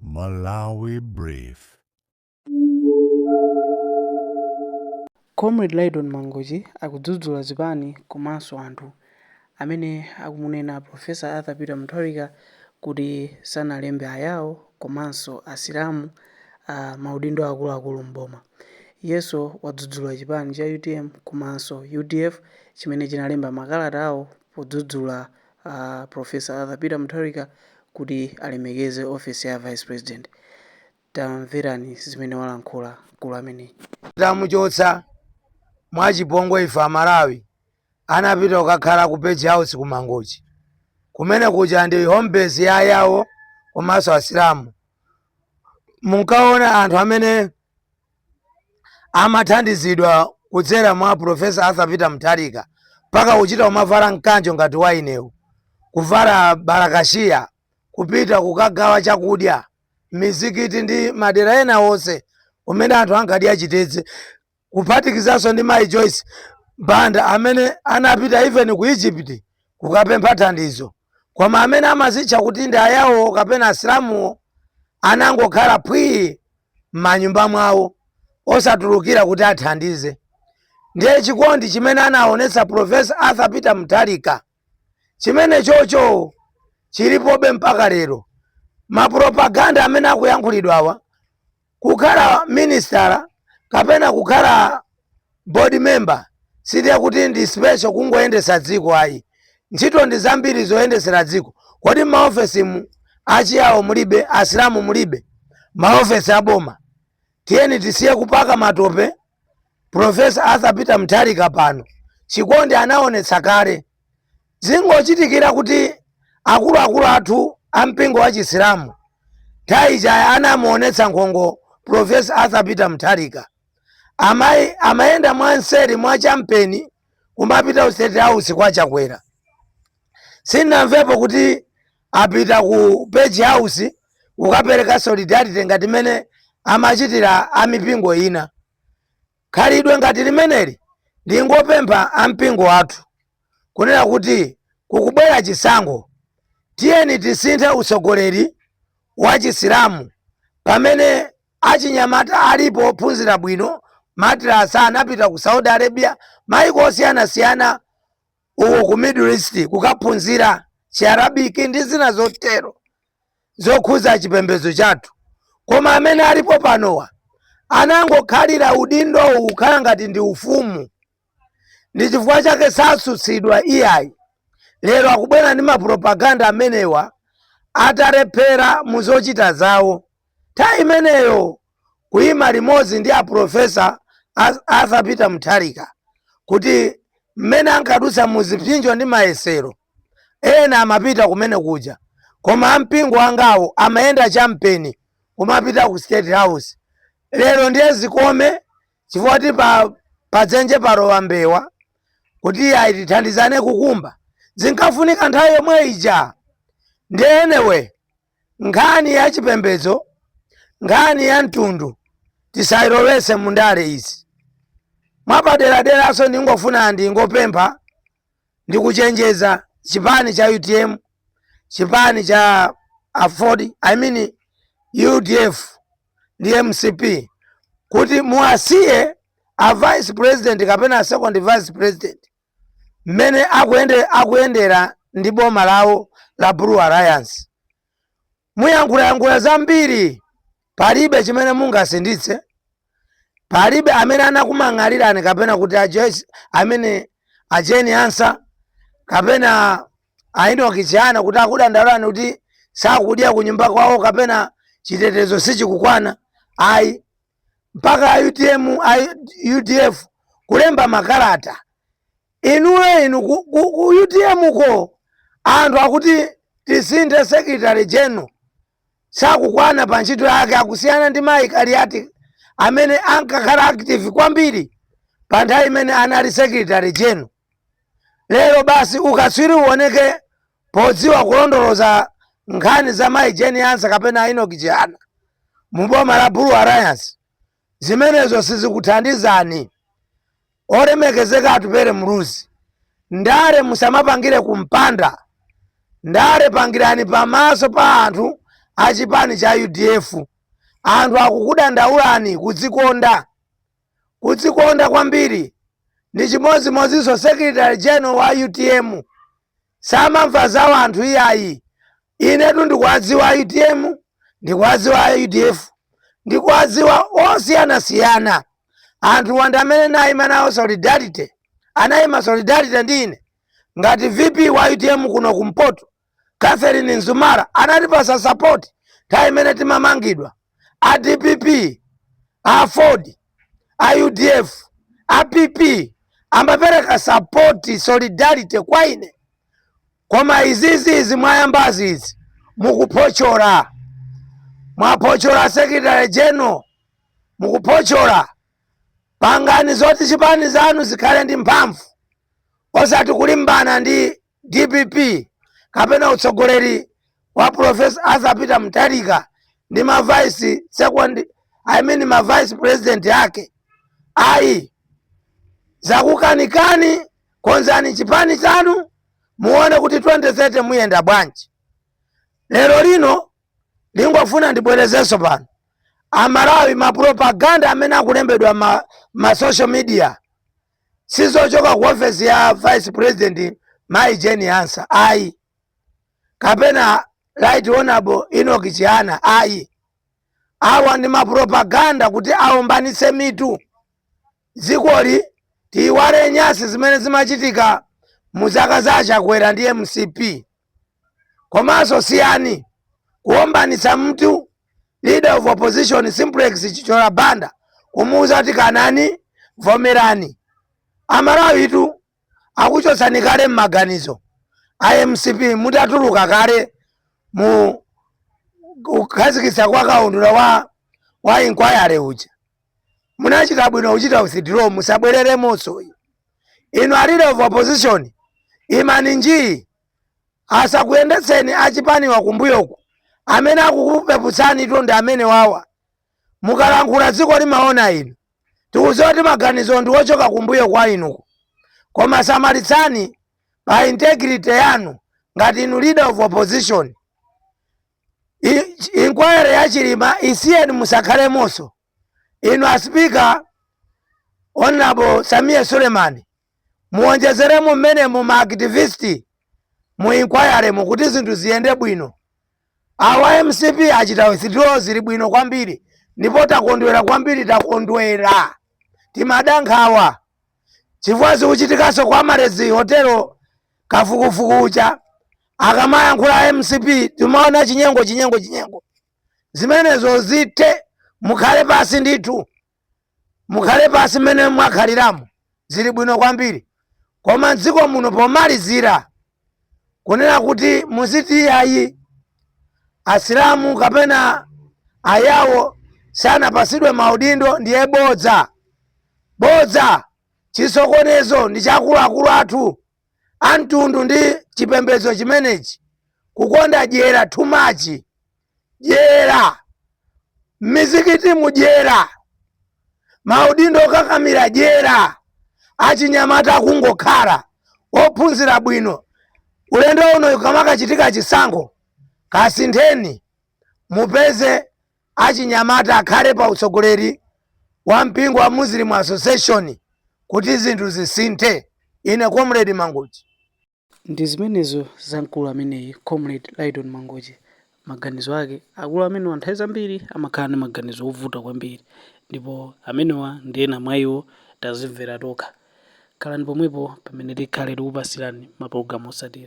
Malawi Brief. Comrade Lydon Mangochi akudzudzula zipani komanso anthu amene akumunena Prof Arthur Peter Mutharika kuti sanalembe Ayao komanso Asilamu m'maudindo akuluakulu m'boma. Iyenso wadzudzula chipani cha utm komanso udf chimene chinalemba makalatawo podzudzula Professor Arthur Peter Mutharika kuti alemekeze ofesi ya Vice President. Tamverani zimene walankhula mkulu ameneyi. Titamuchotsa mwachipongwe ife Amalawi, anapita kukakhala ku Page House ku Mangochi. Kumene kuja ndi home base ya ayawo komanso Asilamu. Munkaona anthu amene amathandizidwa kudzera mwa Professor Arthur Peter Mutharika mpaka kuchita kumavala mkanjo ngati wainewu, kuvala barakashiya, kupita kukagawa chakudya m'mizikiti ndi madera ena onse kumene anthu ankadya chitedze, kuphatikizanso ndi mayi Joyce Banda amene anapita even ku Egypt kukapempha thandizo. koma amene amazitcha kuti ndi Ayawo kapena Asilamuwo anangokhala phwii m'manyumba mwawo osatulukira kuti athandize. Ndiye chikondi chimene anaonetsa Professor Arthur Peter Mutharika chimenechocho chilipobe mpaka lero. Mapropaganda amene akuyankhulidwawa Kukhala minisitala kapena kukhala board member sindiye kuti ndi special kungoyendesa dziko ayi. Ntchito ndi zambiri zoyendesera dziko. Kodi m'maofesimu Achiyao mulibe? Asilamu mulibe? Maofesi a boma tiyeni tisiye kupaka matope Professor Arthur Peter Mutharika pano chikondi anaonetsa kale zingochitikira kuti akuluakulu athu a mpingo wa chisilamu nthawi ija anamuonetsa nkhongo Professor Arthur Peter Mutharika amayi amayenda mwanseri mwa champeni kumapita ku state house kwa chakwera sinamvepo kuti apita ku page house kukapereka solidarity ngati mene amachitira amipingo ina khalidwe ngati limeneli ndingopempha ampingo athu kunena kuti kukubwera chisankho tiyeni tisinthe utsogoleri wa chisilamu pamene achinyamata alipo ophunzira bwino madrasa anapita ku saudi arabia maiko osiyanasiyana uko ku Middle East kukaphunzira Chiarabiki ndi zina zotero zokhuza chipembedzo chathu, koma amene alipo panowa anangokhalira udindowu ukhala ngati ndi ufumu, ndi chifukwa chake sasutsidwa iyayi. Lero akubwera ndi mapropaganda amenewa atalephera mu zochita zawo. Nthawi imeneyo kuima limodzi ndi a Professor Arthur Peter Mutharika kuti mmene ankadutsa mu zipsinjo ndi mayesero ena amapita kumene kuja koma ampingo angawo amayenda champeni kumapita ku state house lero ndiye zikome chifukwa ti padzenje palowa mbewa kuti ayi tithandizane kukumba zinkafunika nthawi yomwe ija ndiye anyway nkhani ya chipembedzo nkhani ya mtundu tisayilowetse mu ndale izi mwapaderaderanso ndingofuna ndingopempha ndikuchenjeza chipani cha utm chipani cha aford i mean udf ndi mcp kuti muwasiye a vice president kapena a second vice president mmene akuyendera ndi boma lawo la blue alliance muyankhulayankhula zambiri palibe chimene mungasinthitse palibe amene anakumang'alirani kapena kuti aje- amene a Jane Ansah kapena a Enoch Chihana kuti akudandaulirani kuti sakudya kunyumba kwawo kapena chitetezo sichikukwana ayi mpaka a utm a udf kulemba makalata inuyo inu ku, ku, ku utm ko anthu akuti tisinthe secretary general sakukwana pa ntchito yake akusiyana ndi mayi kaliati amene ankakhala active kwambiri pa nthawi imene anali secretary general lero basi ukatswiri uoneke Podziwa kulondoloza nkhani za mayi Jane Ansah kapena a Enoch Chihana mu boma la Blue Alliance zimenezo sizikuthandizani. Olemekezeka Atupele Muluzi, ndale musamapangire ku mpanda, ndale pangirani pamaso pa anthu a chipani cha udf. Anthu akukudandaulani, kudzikonda. kudzikonda kwambiri ndi chimodzimodzinso secretary general wa utm samamva za wanthu iyayi inetu ndikuwadziwa a utm ndikuwadziwa a udf ndikuwadziwa osiyanasiyana anthu andale amene nayima nawo solidarity anayima solidarity ndi ine ngati vp wa utm kuno kumpoto Catherine Mzumara anatipasa support nthawi imene timamangidwa a dpp a aford a udf a pp amapereka support solidarity kwa ine koma izizi izi mwayambazi izi mukuphochola mwaphochola secretary general mukuphochola pangani zoti chipani zanu zikhale ndi mphamvu osati kulimbana ndi Dpp kapena utsogoleri wa Professor Arthur Peter Mutharika ndi ma vice second I mean ma vice president ake ayi zakukanikani konzani chipani chanu muone kuti 2030 muyenda bwanji lero lino ndingofuna ndibwerezenso pano amalawi mapropaganda amene akulembedwa m'ma social media sizochoka ku ofesi ya vice president mayi Jane Ansah ayi kapena right honorable Enoch Chihana ayi awa ndi mapropaganda kuti aombanitse mitu dzikoli tiyiwale nyasi zimene zimachitika mu zaka za a Chakwera ndi mcp komanso siyani kuombanitsa mitu leader of opposition Simplex Chithyola Banda kumuuza kuti kanani vomerani. Amalawitu akuchotsani kale m'maganizo a mcp mutatuluka kale mu kukhazikitsa kwa kaundula wa wa inquiry uja munachita bwino kuchita withdraw musabwereremonso inu a leader of opposition imani njii asakuyendetseni achipaniwa kumbuyoku amene akukupeputsanitu ndi amene wawa mukalankhula dziko limaona inu tikuziwa kuti maganizo ndi ochoka kumbuyo kwa inuko koma samalitsani pa integrity yanu ngati inu leader of opposition I- inquiry ya chilima isiyeni musakhalemonso inu a sipika honorable Sameer Suleman muonjezeremo mmenemo ma activist mu inquiry-mu kuti zinthu ziyende bwino awa mcp achita withdraw zili bwino kwambiri ndipo takondwera kwambiri takondwera timadankhawa chifukwa zikuchitikaso kwa Amaryllis Hotel kafukufuku uja akamayankhula a mcp timaona chinyengo chinyengo chinyengo zimenezo zithe mukhale pansi ndithu mukhale pansi mmene mwakhaliramo zili bwino kwambiri koma mdziko muno pomalizira kunena kuti muziti ayi asilamu kapena ayawo sanapatsidwe maudindo ndiye bodza bodza chisokonezo ndi cha akuluakulu athu amtundu ndi chipembedzo chimenechi kukonda dyera too much dyera m'mizikitimu dyera maudindo okakamira dyera achinyamata akungokhala ophunzira bwino ulendo uno kamakachitika chisankho kasintheni mupeze achinyamata akhale pa utsogoleri wa mpingo wa muslim association kuti zinthu zisinthe ine comrade mangochi Ndi zimenezo za mkulu ameneyi Comrade Lyton Mangochi. Maganizo ake. Akulu amenewa nthawi zambiri amakhala ndi maganizo ovuta kwambiri ndipo amenewa ndi ena mwa iwo tazimvera tokha. Khalani pomwepo pamene tikhale tikupatsirani mapulogalamu otsatira.